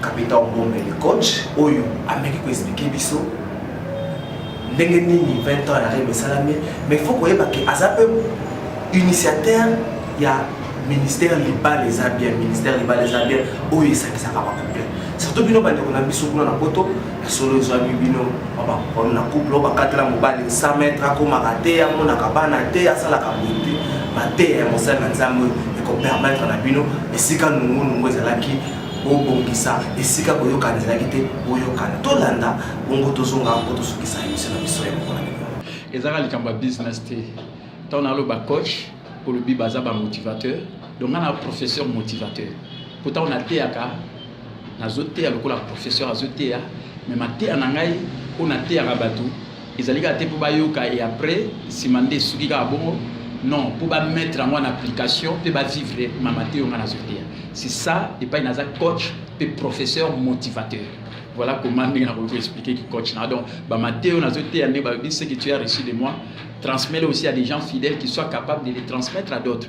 Kapita Obombele coach oyo ameki ko expliquer biso ndenge nini 20 ans ya rem esalami mais faut koyeba ke aza mpe initiateur ya ministère libala eza bien ministère libala eza bien oyo esakisaka bacouple surtout bino bandeko na biso kuna na poto ya solo ezwami bino babakomi na couple bakatela mobali 100 mètre akomaka te amonaka bana te asalaka boye te mateya ya mosali na nzambe ekopermettre na bino esika nungunungu ezalaki bobongisa esika boyokana ezalaki te boyokana tolanda bongo tozonga mpo tosukisa emisio na biso ya mokona miko ezaka likambo ya business te ntango naloba coach olobi baza bamotivateur donc nga na professeur motivateur mpo ntango nateyaka nazoteya lokola professeur azoteya me mateya na ngai oyo nateyaka bato ezali kaka te mpo bayoka e après nsima nde esuki kaka bongo non mpo bamettre yango na application mpe bavivre mama te yo ngai nazwi te c'est ça epai naza coach mpe professeur motivateur voilà comment ndenge nakoki koexplike ki coach na donc bamate oyo nazo teya nde balobi ce que tu as reçu de moi transmets le aussi à des gens fidèles qui soient capables de les transmettre à d'autres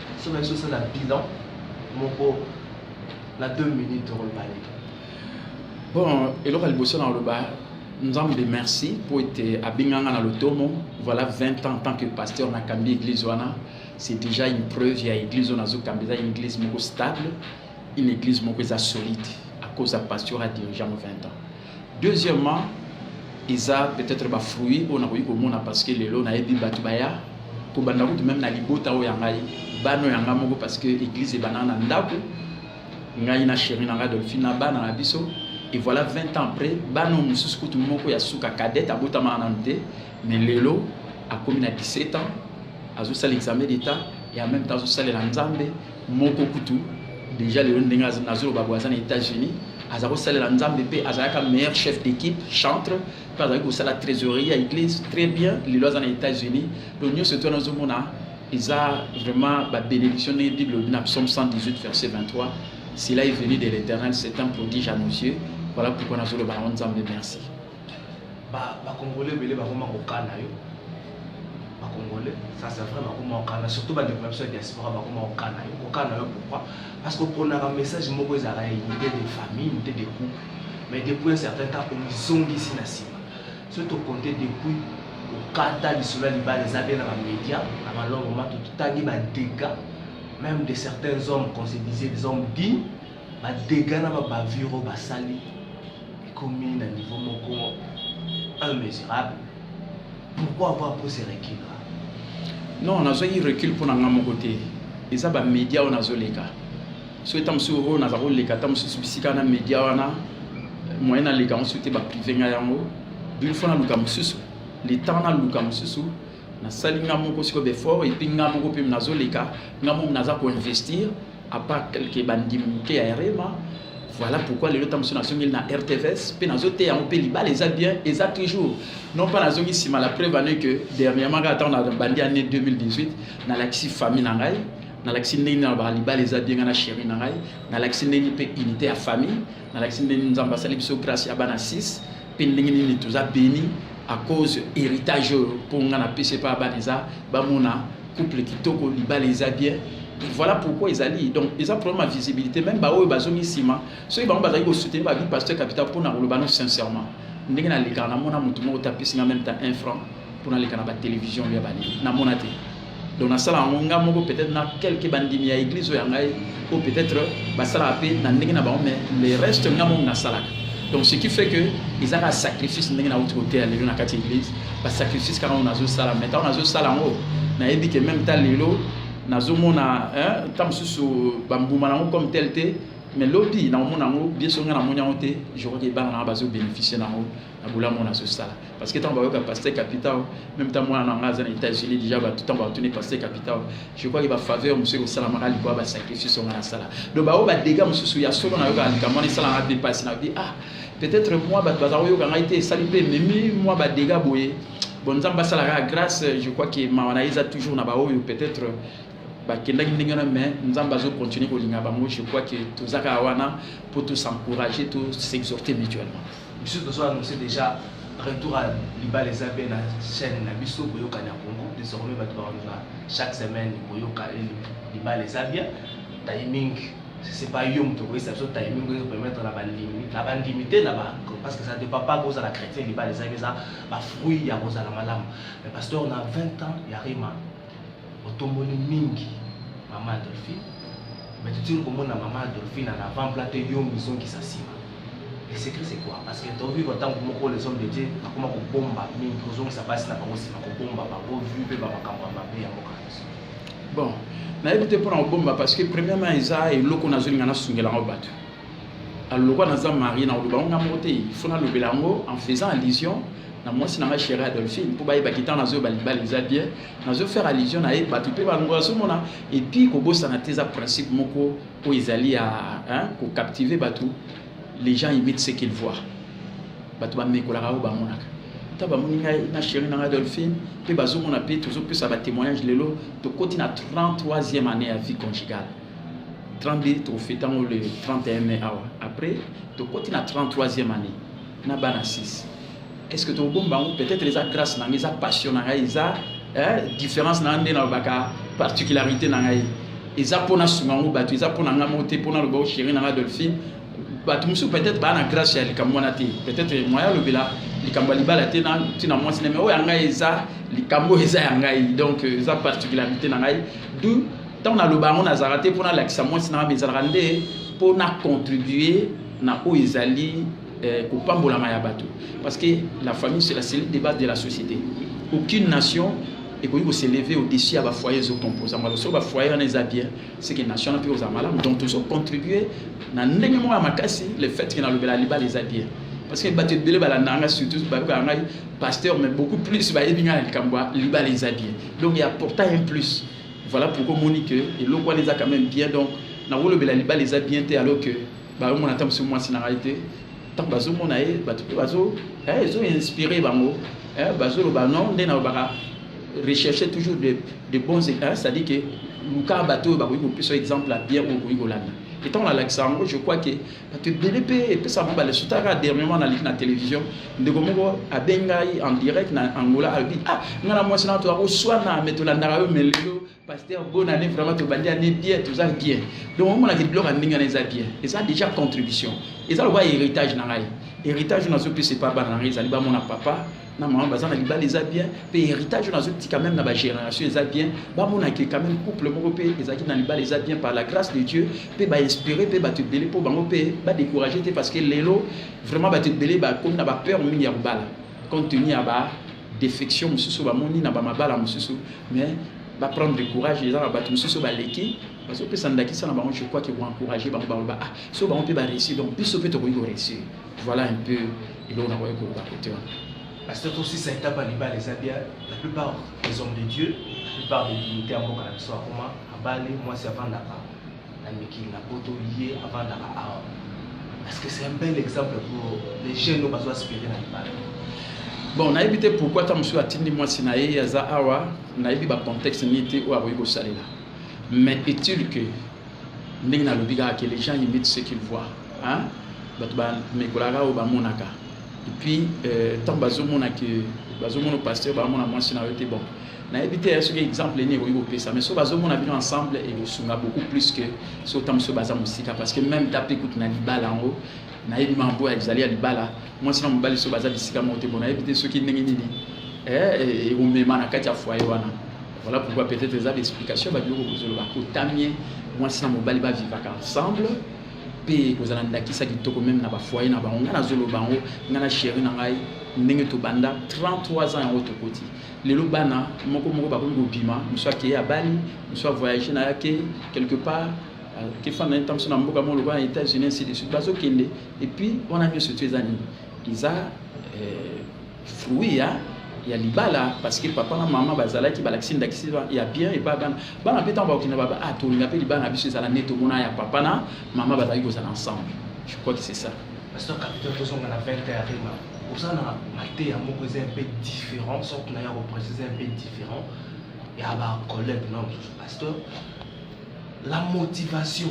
soki nayebi sosala bilan moko na 2 minutes tokoloba nini bon eloko ya liboso nakoloba nzambe merci mpo ete abenganga na lotomo voilà 20 ans en tant que pasteur nakambi église wana c'est déjà une preuve ya église oyo nazokambi eza une église moko stable une église moko eza solide à cause ya pasteur adirige yango 20 ans deuxièmement eza peut-être ba fruits oyo nakoki komona parce que lelo nayebi bato baya kobanda kutu meme na libota oyo ya ngai bana oyo ya ngai moko parce que église ebanda na ndako ngai na chéri na ngai dolphine na bana na biso et voilà 20 ans après bana oyo mosusu kutu moko ya suka cadette abotamaka nanu te mais lelo akomi na 17 ans azosala examen d'état et en même temps azosalela nzambe moko kutu deja lelo ndenge nazoloba boye aza na états-unis aza kosalela nzambe mpe azalaka meilleur chef d'équipe chantre mpe azalaki kosala trésorerie ya église très bien lelo aza na états-unis to nyonso to wana ozomona eza vraiment babénédiction ndenge bible olobi na psaume 118 verset 23 cela est venu de l'éternel c'est un prodige à nos yeux voilà pourquoi nazoloba yango nzambe merci ba congolais ebele bakoma kokana yo ba congolais ça c'est vrai bakoma kokana surtout bandeko na biso ya diaspora bakoma kokana yo kokana yo pourquoi parce que oponaka message moko ezalaka ya unité de famille unité de couple mais depuis un certain temps omizongisi na nsima soki tokonte depuis okata lisolo ya libala eza bie na bamédia na malongo mato totangi badega même de certains hommes qu'on se disait des hommes dignes ba dégâts na ba bavure oyo basali ekomi na niveau moko immesurable pourquoi avoir pris ce recul là non nazwaki recul mpo na ngai moko te eza bamédia oyo nazoleka so eta mosusu oyo naza koleka ata mosusu bisika na média wana moyen naleka yango soki te baprive ngai yango une fois naluka mosusu le temps naluka mosusu nasali ngai moko sikoyo befort epuis ngai moko mpe nazoleka ngai moko naza koinvestir à part quelques bandimi moke ya rema voilà pourquoi lelo ntango mosusu nazongeli na rtvs mpe nazoteya yango mpe libala eza bien eza toujours non mpa nazongi nsima la preuve ane que dernièrement kaka ntango na bandi année 2018 nalakisi famille na ngai nalakisi ndenge na ba libala eza bien ngai na chéri na ngai nalakisi ndenge mpe unité ya famille nalakisi ndenge nzambe asali biso grâce ya bana 6 pe ndenge nini toza beni à cause héritage oyo mpo nga napesi epai ya bana eza bamona couple kitoko libala eza bien voilà pourquoi ezali donc eza problème ya visibilité même baoyo bazongi nsima soki bango bazali kosoutenir bavi pasteur capital mpo na koloba no sincèrement ndenge nalekaka namona motu moko te apesi nga même ta un franc mpo naleka na batelevizio ya balingi namona te donc nasala yango nga moko peut-être na quelque bandimi ya église oyo ya ngai o peut-être basalaka mpe na ndenge na bango mais le reste nga moko nasalaka donc ce qui fait que eza kaka sacrifice ndenge nauti koteya lelo na kati ya église basacrifice kaka oyo nazosala mais ntango nazosala yango nayebi ke meme ta lelo nazomona nta mosusu bambuma na yango comme tel te mais lobi nakomona yango bieso ngai namoni yango te je crois ke bana na yango bazobénéficie na yango na bolamu oyo nazosala parce que ntango bayoka pasteur capitao meme ntango mwana na ngai aza na états-unis déjà bato ntango batuni pasteur capitao je crois ke bafaveur mosusu ekosalamaka likoya basacrifice onga nasala donc baoyo badega mosusu ya solo nayokaka likambo wana esalanga mpe mpasi na bi ah peut-être mwa bato baza koyoka ngai te esali mpe ememi mwa badega boye bon nzambe asalaka grâce je crois ke mawa na ye eza toujours na baoyo peut-être bakendaki ndenge wana mais nzambe azocontinue kolinga bango je crois ke toza kaka wana mpo tosencourage tosexhorte mutuellement biso tozo annonce deja retour ya libala eza mpe na chaîne na biso boyoka na congo désormais bato bakolinga chaque semaine boyoka libala eza bien timing c'est pas yo moto okoyesa biso timing oyo permettre na bandimi na bandimi te na parce que ça dépend pas kozala chrétien libala ezalaki eza bafruit ya kozala malamu mais pasteur na 20 ans ya rima otomboli mingi mama adolphine me totiki komona mama adolphine na avant plat te yo mizongisa nsima le secret c'est quoi parce que tovivre ntango moko les hommes de dieu akoma kobomba mingi kozongisa basi na bango nsima kobomba bango vu mpe bamakambo ya mabe ya mboka nyonso bon nayebi te mpona kobomba parce que premièrement eza eloko nazolinga nasungelango bato alors lokola naza marie nakoloba yango nga moko te fo nalobela yango en faisant allusion na mwasi na ngai chéri adolphine mpo bayebaki ntango nazoyo balibala eza bien nazo faire allusion na ye bato mpe balongo bazomona epuis kobosana te eza principe moko oyo ezali ya kocaptive bato les gens imitent ce qu'ils voient bato bamekolaka oyo bamonaka ta bamoni ngai na chéri na ngai adolphine mpe bazomona mpe tozopesa batémoignage lelo tokoti na 33e année ya vie conjugale 32 trophée tango le 31 mai awa après tokoti na 33e année na bana 6 est ce que tokobomba yango peut-être eza grâce na ngai eza passion na ngai eza eh, différence na ngai nde nalobaka particularité na ngai eza mpo nasunga yango bato eza mpo na ngai moko te mpo naloba ochéri na ngai dolphine bato mosusu peut-être baa na grâce ya likambo wana te peut-être moya alobela likambo ya libala te na ntina mwasi na me oyo ya ngai eza likambo eza ya ngai donc eza particularité na ngai du ntango naloba yango nazalaka te mpo nalakisa mwasi na ngai ezalaka nde mpo na contribue na oyo ezali eh, kopambolama ya bato parce que la famille c'est la cellule de base de la société aucune nation ekoki koseleve au-dessus ya bafoye ezokomposa yango soki bafoye wana eza bien seke nation wana mpe kozala malamu donc tozocontribue na ndenge moko ya makasi le fait ke nalobela libala eza bien parce que bato ebele balandaka ngai surtout bayokaka ngai pasteur mais beaucoup plus bayebi ngai na likambo ya libala eza bien donc ya portail un plus Voilà pourquoi omoni que eloko wana eza quand même bien donc nakolobela libala eza bien te alors que baomona ata mosusu mwasi na ngai te ntango bazomona ye bato mpe bazo eh, ezo inspire bango eh, bazoloba non nde nalobaka rechercher toujours de, de bons c'est-à-dire que luka bato oyo bakoki kopesa exemple ya bien oyo okoki kolanda etango nalakisa yango je crois que bato ebele mpe epesaka bango baleso taka dernièrement naliki na télévision ndeko moko abengi ngai en direct na angola alobi ah ngai na mwasi na bato bakoswana me tolandaka yo me lelo paster bona ne vraiment tobandi ane bien toza bien donc omonaki biloko ya ndenge wana eza bien eza déjà contribution eza lokola héritage na ngai héritage oyo nazopesa epa bana na ngai ezali bamona papa na mama baza na libala eza bien mpe héritage oyo nazotika meme na bagénération eza bien bamonake quand même couple moko mpe ezalaki na libala eza bien par la grâce de dieu mpe bainspire mpe bato ebele mpo bango mpe badécourage te parce que lelo vraiment bato ebele bakomi na bapeur mingi ya kobala compte tenu ya ba défection mosusu bamoni na bamabala mosusu mais baprendre de courage eza na bato mosusu baleki bazopesa ndakisa na bango je crois ke koencourage bango baloba ah so bango mpe bareussi donc biso mpe tokoki koreussi voilà un peu eloko nakoki koloba kote wana pasteur tosisa etape ya libala eza bia la plupart des hommes de dieu la plupart des dignité ya mboka na biso akoma abale mwasi avandaka na mikili na poto ye avandaka awa parce que c'est un bel exemple pour les jeunes oyo bazo aspire na libala bon nayebi te pourquoi ata mosusu atindi mwasi na ye aza awa nayebi bacontexte nini te oyo akoki kosalela mais utile que ndenge nalobi kaka ke les gens imitent ce qu'ils voient hein? bato bamekolaka oyo bamonaka epuis euh, ntango bazomona ke bazomona pasteur baamona mwasi na yo te bon nayebi te ya soki exemple nini ekoki kopesa mais soki bazomona bino ensemble ekosunga beaucoup plus que soki ntango soki baza mosika parce que même ta mpe kutu na libala yango nayebi mambo ezali ya libala mwasi na mobali soki baza bisika moko te bon nayebi te soki ndenge nini ekomema eh, eh, na kati ya foyer wana Voilà pourquoi peut-être eza d'explication ba biloko kozoloba kotamie mwasi na mobali ba vivaka ensemble mpe kozala ndakisa kitoko meme na bafoye na bango ngai nazoloba yango ngai na sheri na ngai ndenge tobanda 33 ans yango tokoti lelo bana moko moko bakomi kobima mosu akeye abali mosu avoyage na yake quelque part euh, kefanda ntango mosu na mboka moko lokola na états-unis ainsi de suite bazokende epuis wana nyonso tu eza nini eza euh, fruit ya ya libala parce que papa na mama bazalaki balakisi ndakisi ya bien et pas bana bana pe tant bakina baba ah tolinga pe libala na biso ezala nde tomona ya papa na mama bazalaki kozala ensemble je crois que c'est ça pasteur capitaine tozonga na 20 heures rima oza na mateya moko eza un peu différent sorte na ya koprécise un peu différent ya bacollègue na mosusu pasteur la motivation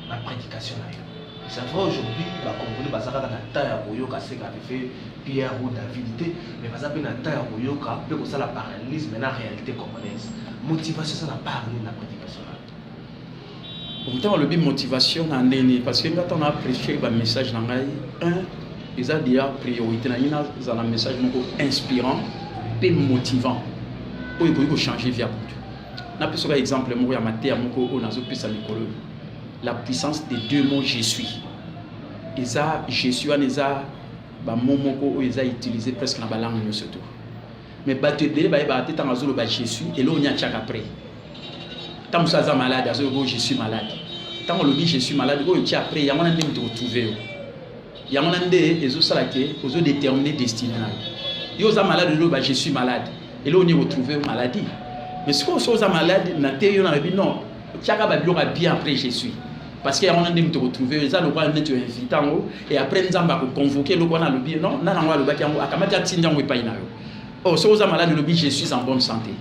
na prédication na yo c'est vrai aujourd'hui bacongolais baza kaka na temps ya koyoka seka pefe pierre ou david te mais baza mpe na temps ya koyoka mpe kosala parallélisme na réalité congolaise motivation eza na part nini na prédication na yo ntango alobi motivation na ndeni parce que nga ntango na apprécie bamessage na ngai un eza deya priorité na ngai nazala message moko inspirant mpe motivant oyo ekoki kochange via moto napesa ka exemple moko ya mateya moko oyo nazopesa mikolo la puissance de deux mots je suis eza je suis wana eza bamo moko oyo eza utilise presque na balangue nyonso to mais bato ebele bayebaka te ntango azoloba je suis eloko nini atiaka après ntango mosusu aza malade azoloba oyo je suis malade ntango olobi je suis malade oyo otia après yango wana nde moto kotrouve yo yango na nde ezosala ke ozo determine destine na yo yo oza malade oloba je suis malade eloko nini ekotrouve yo maladie mais sikoyo soki oza malade na te yo nalobi non tiaka babiloko ya bien après je suis parce que yango na nde moto ekotrouve yo eza lokola neti oinvite yango et après nzambe akoconvoke eloko wana alobi non nani yango alobaki yango akamati atindi yango epai na yo o oh, soki oza malade olobi je suis en bonne santé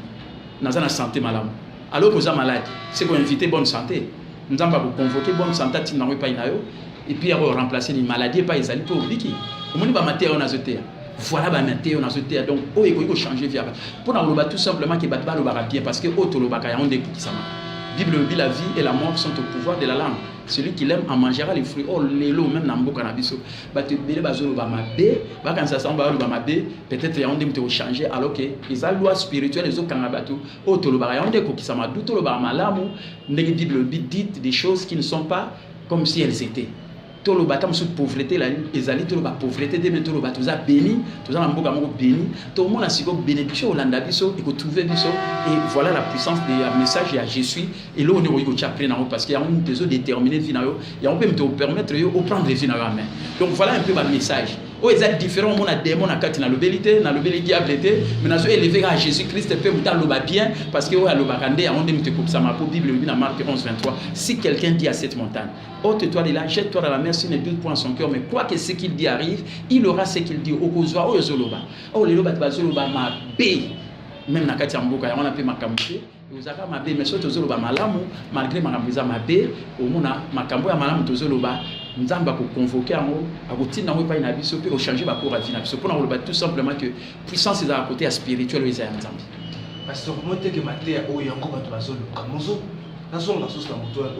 naza na santé malamu alors que oza malade se ko invite bonne santé nzambe akoconvoke bonne santé atinda yango epai na yo epuis ya koremplace ni maladie epai ezali mpe obiki omoni bamateya oyo nazoteya voilà bamateya oyo nazoteya donc oyo ekoki kochange vi yaba mpo na koloba tout simplement ke bato balobaka bien parce que oyo tolobaka yango nde ekokisamaka bible elobi la vie et la mort sont au pouvoir de la langue celui qui l'aime en mangera les fruits oh lelo même na mboka na biso bato ebele bazoloba mabe bakanisa sango bazoloba mabe peut-être yango nde moto ekochange alors ke eza loi spirituelle ezokanga bato oyo tolobaka yango nde ekokisama du tolobaka malamu ndenge bible elobi dite des choses qui ne sont pas comme si elles étaient toloba ata mosusu pauvreté ezali toloba pauvreté te me toloba toza béni toza na mboka moko béni tomona sikoyo bénédiction olanda biso ekotrouve biso et voilà la puissance de ya message ya je suis eloko nde okoki kotya prix nango parce que yango moto ezodétermine vie na yo yango mpe moto opermettre yo oprendre vie na yo amen donc voilà un peu bamessage oyo eza différent omona demon na kati nalobeli te nalobeli diable te mais nazo eleve kaka jésus christ mpe moto aloba bien parce que oyo alobaka nde yango nde moto ekokisama mpo bible elobi na mark 11 23 si quelqu'un dit à cette montagne ôte toi de là jette toi dans la mer s'il ne doute point son cœur mais quoi que ce qu'il dit arrive il aura ce qu'il dit okozwa oyo ozoloba oyo oh, lelo bato bazoloba mabe meme na kati ya mboka yango wana mpe makambo te ozalaka mabe mais soki tozoloba malamu malgré makambo eza mabe omona makambo ya malamu tozoloba nzambe akoconvoke yango akotinda yango epai na biso mpe kochange bacour ya vie na biso mpo na koloba tout simplement que puissance ezala kote ya spirituel oyo eza ya nzambe basokomoteke mateya oyo yango bato bazoluka mozo nazonga susu na moto wana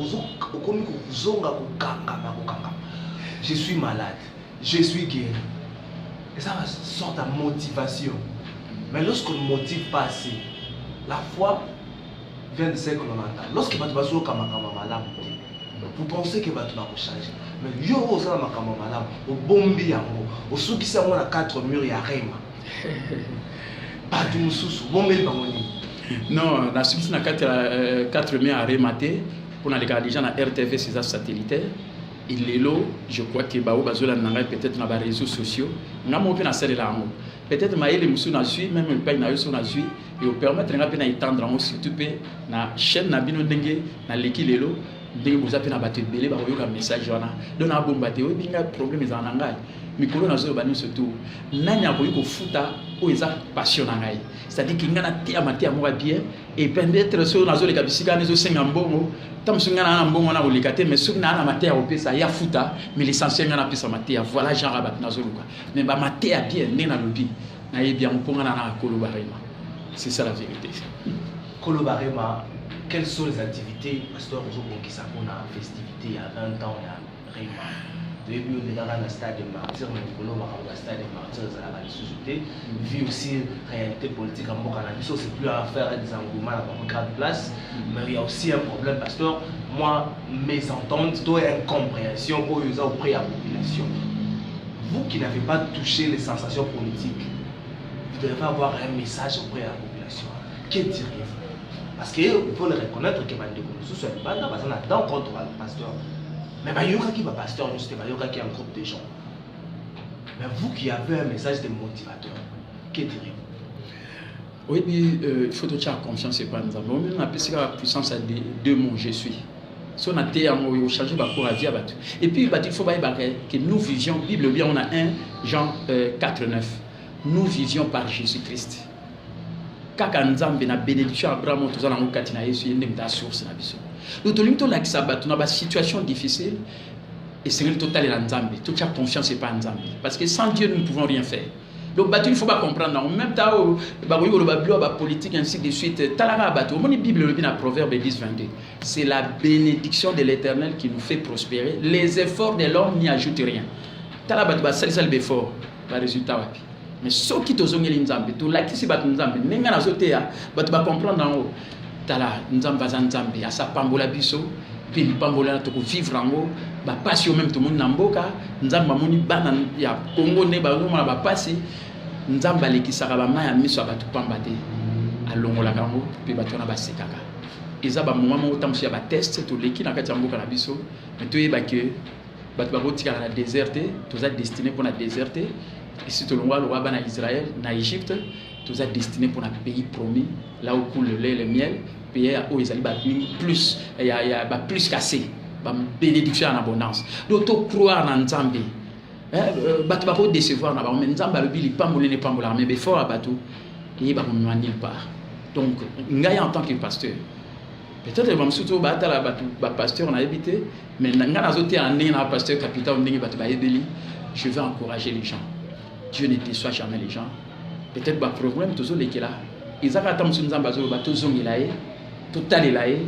okomi kozonga kokangama kokangama je suis malade Je suis guéri. Et ça va sorte à motivation. Mais lorsqu'on ne motive pas assez, la foi vient de ce que l'on entend. Lorsque bato bazoyoka makambo malamu te, vous pensez que bato bakochange. Mais yo oyo osala makambo malamu, obombi yango, osukisi yango na quatre mur ya rema. Bato mosusu, obombeli bango nini? Non, nasukisi na kati ya euh, quatre mur ya rema te, mpo nalekaka deja na rtv seza satellitaire Et lelo, je crois que baoyo bazolanda na ngai peut-être na ba réseaux sociaux, nga moko mpe nasalela yango. Peut-être mayele mosusu nazwi meme epai na yo so nazwi eopermettre nga mpe na etendre yango surtout mpe na chaîne na bino ndenge naleki lelo ndenge boza mpe na bato ebele bakoyoka message wana donc nabomba te oyebi ngai problème ezala na ngai mikolo nazoloba nyonso tu nani akoki kofuta oyo eza passion na ngai c'est-à-dire ke ngai nateyama teya moko ya bien et peut-être soki nazoleka bisika wana ezosenga mbongo ta mosusu ngai naa na mbongo wana koleka te mais soki naa na mateya kopesa ya futa mais l'essentiel ngai napesa mateya voilà genre ya bato nazoluka mais bamateya bien nde nalobi nayebi yango mpo ngai naa koloba rema c'est ça la vérité koloba rema quelles sont les activités pasteur ozobongisa mpona festivité ya 20 ans ya Rema toyebi yo leka kaka na stade de martyr na likolo makambo ya stade de martyr ezalaka lisusu te vi aussi réalité politique ya mboka na biso c'est plus à faire des engouement na bango grande place mais il y a aussi un problème pasteur moi mes ententes to incompréhension oyo eza auprès ya population vous qui n'avez pas touché les sensations politiques vous devez avoir un message auprès ya Que diriez-vous Parce qu'il faut le reconnaître que bandeko mosusu ya libanda baza na dent contre ba pasteur mais bayokaki ba pasteur nyonso te bayokaki un groupe de gens mais vous qui avez un message de motivateur que diriez-vous oyebi euh, il faut totya confiance epa nzambe omemi napesi kaka puissance ya deux mots je suis so na te yango oyo ochange bacour avia bato epuis bato il faut bayebaka que nous vivions bible obi yango na 1 jean euh, 4 9 nous vivions par jésus christ kaka nzambe na benediction ya abraham oyo toza nango kati na yesu ye nde moto asource na biso do tolingi tolakisa bato na basituation difficile esengeli totalela nzambe totya confiance epai ya nzambe parce que sans dieu nous ne pouvons rien faire donc bato il faut bacomprendre yango même ta oyo bakoki koloba bilo ya bapolitique ainsi de suite talaka bato omoni bible elobi na proverbe 10 22 c'est la bénédiction de l'éternel qui nous fait prospérer les efforts de l'homme n'y ajoute rien tala bato basalisali baeffort baresultat wapi mais soki tozongeli nzambe tolakisi bato nzambe ndenge ngai nazoteya bato bacomprendre yango tala nzambe aza nzambe asi apambola biso mpe lipambola na tokovivre yango bapasi oyo meme tomoni na mboka nzambe amoni bana ya kongo nde bazomona bapasi nzambe alekisaka bama ya miso ya bato pamba te alongolaka yango mpe bato wana basekaka eza bamoma moko ntango mosusu ya bateste toleki na kati ya mboka na biso me toyeba ke bato bakotikala na desert te toza destine mpo na desert te esi tolongwa longwa bana israel na egypte toza destine mpo na pays promis là où coule le lait le miel pays oyo ezali ba plus ya, ya ba plus cassé ba bénédiction en abondance donc to croire na nzambe eh, euh, bato bakodecevoir na bango me nzambe alobi lipamboli na epambolaka me befort ya bato eyeba komema nulle part donc ngai en tant que pasteur peut-être bamosusu oyo batala bato bapasteur nayebi te mais ngai nazoteyana ndenge na bapasteur capital ndenge bato bayebeli je vais encourager les gens dieu ne déçoit jamais les gens peut-être baproblème tozolekela eza kaka ta mosusu nzambe azoloba tozongela ye totalela ye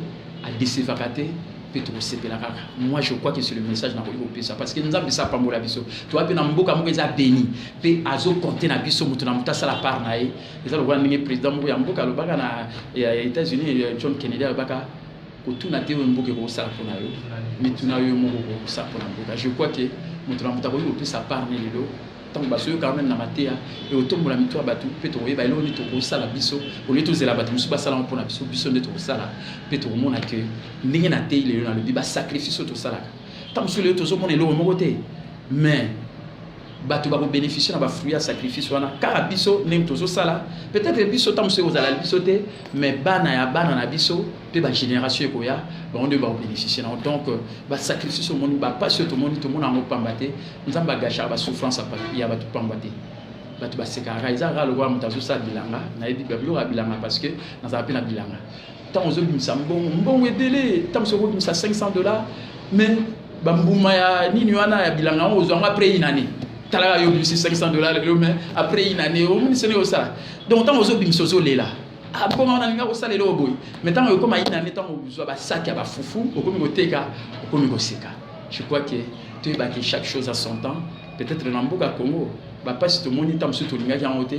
adesevaka te mpe tokosepela kaka moi je crois que c'est le message nakoki kopesa parce que nzambe esi apambola biso toa mpe na mboka moko eza beni mpe azokonte na biso moto na moto asala part na ye eza lokola ndenge président moko ya mboka alobaka na ya états-unis euh, john kennedy alobaka kotuna te oyo mboka ekokosala mpo na yo mituna yo moko okokosala mpo na mboka je crois ke moto na moto akoki kopesa part ne lelo ntango bazoyoka meme na mateya ekotombola mitu ya bato mpe tokoyeba eloko nini tokosala biso olie tozela bato mosusu basalama mpo na biso biso nde tokosala mpe tokomona ke ndenge na tei lelo nalobi basacrifice oyo tosalaka ntango mosusu lelo tozomona eloko moko te mais bato bakobeneficie na bafruit ya sacrifice wana kaka biso ndenge tozosala peut-être biso ntango mosusu ekozala biso te mais bana ya bana na biso mpe bagénération ekoya bango nde bakobeneficie nango donc euh, basacrifice omoni bapasi oyo tomoni tomona yango mpamba te nzambe agashaka basouffrance ya bato mpamba te bato basekaka eza kaka lokola moto azosala bilanga nayebi biloko ya bilanga parce que nazala mpe na bilanga ntango ozobimisa mbongo mbongo ebele ntango soki okobimisa 500 dollars mais bambuma ya nini wana ya bilanga yango ozwa yango après une année talaka yo obimisi 500 dollars lelo mais après une année omoni sene osala donc ntango ozobimisa ozolela abonga ah, wana alinga kosala eloko boye mais ntango ekoma une année ntango ozwa basaki ya bafufu okomi koteka okomi koseka je crois que toyebaki chaque chose à son temps peut-être na mboka congo bapasi tomoni ntango mosusu tolingaki yango te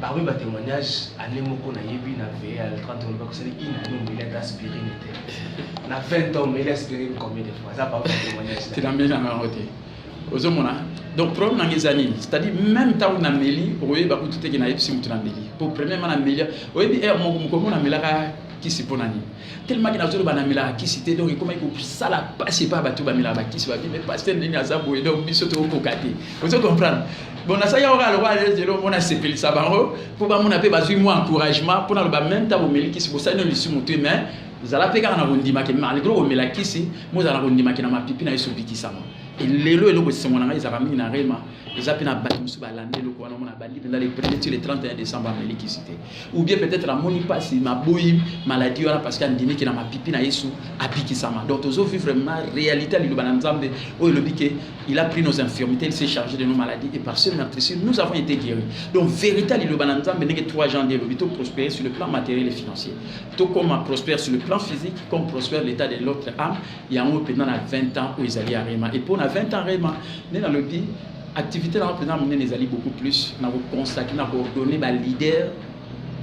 Parmi ba témoignages, année moko na yebi na veille à 30 ans, parce que une année on est aspiré n'était. Na 20 ans, mais aspiré combien de fois Ça parmi ba témoignages. Tu n'as même jamais roté. ozomona donc problème nanga eza nini c'est-à-dire même ntango nameli okoyeba kutu teke nayebisi motu nameli po premièrement namelia oyebi heure moko mokomo namelaka kisi mpo na nini tellement que nazoloba namelaka kisi te donc ekomaki kosala mpasi epai bato bamelaka bakisi babi me paster ndenge aza boye donc biso tokokoka te ozo comprendre bon nasali yango kaka lokola lelo mona asepelisa bango mpo bamona mpe bazwi mwa encouragement mpo naloba meme ntango omeli kisi bosali no lisumu te mais zala mpe kaka na kondimaki malgre omela kisi mozala na kondimaki na mapipi na ye sobikisama lelo eloko esengo na ngai ezalaka mingi na rema eza mpe na bato mosusu balandi eloko wana omona bandi mpenza le premier ti le 31 décembre amelikisi te ou bien peut-être amoni mpasi maboyi maladie wana parce que andimi ke na mapipi na yesu abikisama donc tozo vivre ma réalité ya liloba na nzambe oyo elobi ke il a pris nos infirmités il s'est chargé de nos maladies et par ce meurtrissure nous avons été guéris donc vérité ya liloba na nzambe ndenge 3 jean de elobi to prospérer sur le plan matériel et financier tokoma prospère sur le plan physique comme prospère l'état de l'autre âme yango mpenza na 20 ans oyo ezali ya rema et mpo na 20 ans rema nde nalobi Activité na mpenza monene ezali beaucoup plus na ko consacrer na ko donner ba leader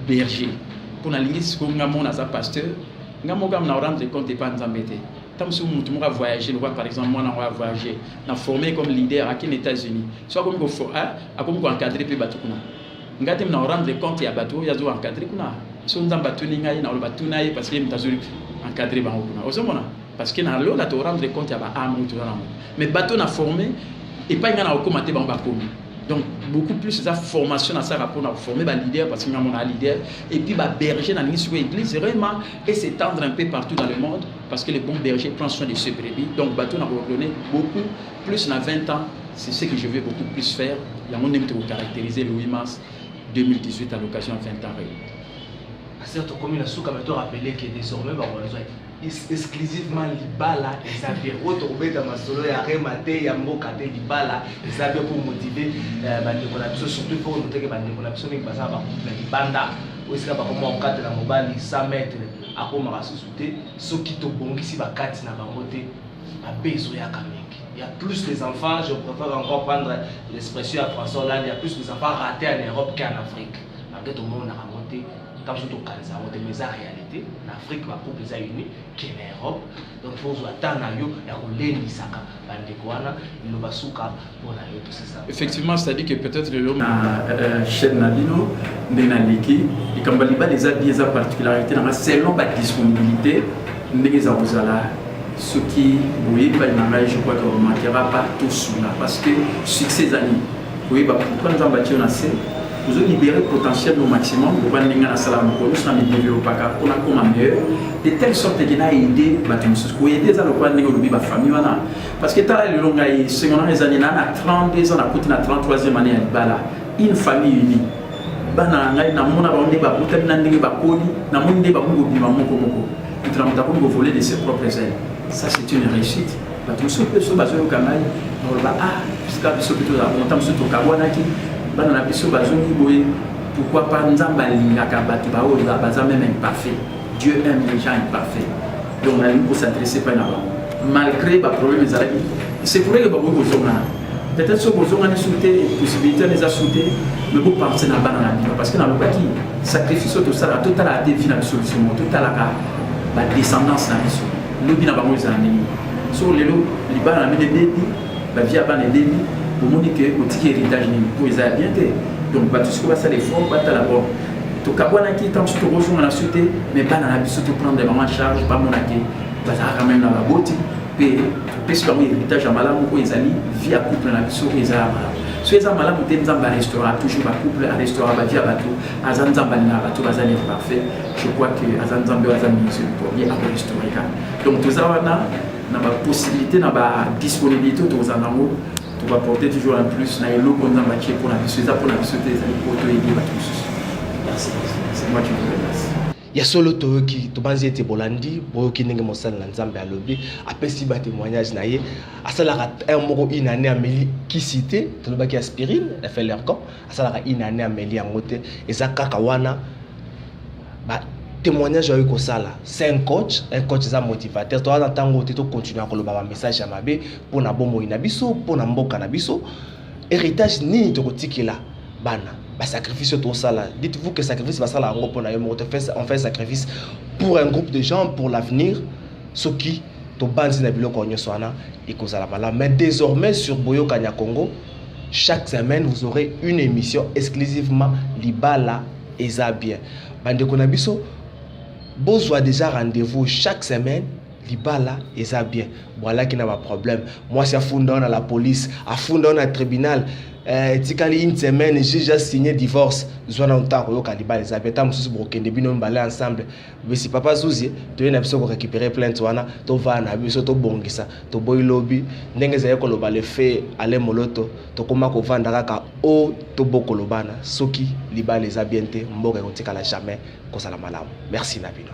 berger mpo nalingi sikoyo nga mona aza pasteur nga moko na rendre compte epa nzambe te ntango mosusu motu moko avoyage lokola par exemple mwana yango avoyage na forme comme leader akende états-unis so akomi ah, akomi koencadre mpe bato kuna nga te na rendre compte ya bato oyo azo encadre kuna so nzambe atuni ngai na oloba tuna ye parce que ye moto azo encadre bango kuna ozomona parce que na lola to rendre compte ya ba âme oyo toza nango mais bato na forme epai ngai na kokoma te bango bakomi donc beaucoup plus eza formation nasalaka mpona koforme baleader parce que ngai monaa leader et puis baberger nalingi sikoyo église rema et s'étendre un peu partout dans le monde parce que le bon berger prend soin de ce brebis donc bato na koordonne beaucoup plus na 20 ans c'est ce que je vais beaucoup plus faire yango ndenge tokocaractériser le 8 mars 2018 à l'occasion ya 20 ans réuni aser tokomi na suka me to rappele que désormais bakozwa exclusivement libala eza bien oyo tokobeta masolo ya rema te ya mboka te libala eza bien mpo motive euh, bandeko na biso surtout mpo noteke bandeko na biso mingi baza bakutu na libanda oyo esika bakoma kokatela mobali 100 mètre akomaka susu te soki tobongisi bakati na bango te mabe ezoyaka mingi il y a plus les enfants, je préfère encore prendre l'expression à François Hollande, il y a plus les enfants ratés en Europe qu'en Afrique. Malgré tout le monde a raconté kaka biso tokanisa yango te mais eza réalité na afrique bagroupe eza uni ke na europe donc fo ozwa temps na yo ya kolendisaka bandeko wana liloba suka mpo na yo tosesa effectivement c'est-à-dire que peut-être lelo na euh, chaîne na bino nde naleki likambo ya libala eza bi eza particularité nanga selon badisponibilité ndenge eza kozala soki boyebani na ngai je crois que remarquera pas tout cela parce que succès ezali koyeba pourquoi nzambe atio na se ozo libere potentiel au maximum loba ndenge nasala mokolo nyonso na midevelopaka mpo nakoma meilleur de telle sorte ke na aide bato mosusu koyede eza lokola ndenge olobi bafamille wana parce que tala lelo ngai sengo nanga ezali na na 32 ans nakuti na 33e année ya libala une famille unie bana na ngai namona bango nde babotami na ndenge bakoli namoni nde bakomi kobima moko moko moto na moto akomi kovole de ses propres ailes ça c'est une réussite bato mosusu mpe biso bazoyoka ngai moloba a ah, sika biso mpe tozala konta mosusu tokabwanaki bana na biso bazongi boye pourquoi pas nzambe alingaka bato baoyo baza meme imparfait dieu aime les gens imparfait donc nalingi kosadresse mpe na bango malgré baproblème ezalaki c'est pour que bakoki kozongana peut-être soki bozongani su te possibilité wana eza su te mais bopense na bana na bino parce que nalobaki sacrifice oyo tosalaka totalaka te vi na biso biso mo totalaka badescendance na biso lobi na bango ezala ndenge soko lelo libala na bino ebebi bavie ya bana ebebi omoni ke otiki héritage nini mpo eza ya bien te donc bato siko basala effort batala bon tokabwanaki ntango so tokozonga na so te mais bana na biso toprendre bango en charge bamona ke bazalaka meme na baboti mpe topesi bango héritage ya malamu oyo ezali vie ya couple na biso oyo ezala malamu so eza malamu te nzambe arestaura toujours bacouple arestaura bavie ya bato aza nzambe alingaka bato baza imparfait je crois que aza nzambe oyo aza ministre du premier après historika donc toza wana na bapossibilité na badisponibilité oyo tokozala nango tobaporte toujours un plus na eloko nzambe atie mpo na biso eza mpo na biso te ezali mpo toyede bato mosusu c'est moi qui vous remercie ya solo toyoki tobanzi ete bolandi boyoki ndenge mosali na nzambe alobi apesi ba témoignage na ye asalaka heure moko une année ameli kisi te tolobaki aspirine ya felercon asalaka une année ameli yango te eza kaka wana ba témoignage oyo kosala c'est un coach un coach eza motivateur toza na ntango te tokontinue koloba bamessage ya mabe mpo na bomoi na biso mpo na mboka na biso héritage nini tokotikela bana basacrifice oyo tosala dites vous que sacrifice basala yango mpo na yo moko on fait sacrifice pour un groupe de gens pour l'avenir soki tobanzi na biloko nyonso wana ekozala malamu mais désormais sur boyokani ya congo chaque semaine vous aurez une émission exclusivement libala eza bien bandeko na biso bozwa déjà rendez-vous chaque semaine libala eza bien bwalaki na baproblème mwasi afunda yo na la police afunda yo na tribunal eh, etikali une semaine juge asigne divorce zwa na ntango oyoka libala eza bien ntango mosusu bokokende bino mibale ensemble bisi papa zuzi toye na biso korécupere plainte wana tovaa na biso tobongisa toboyi lobi ndenge ezali koloba lefe ale moloto tokóma kovanda kaka o tobokolobana soki libala eza bien te mboka ekotikala jamais kozala malamu merci na bino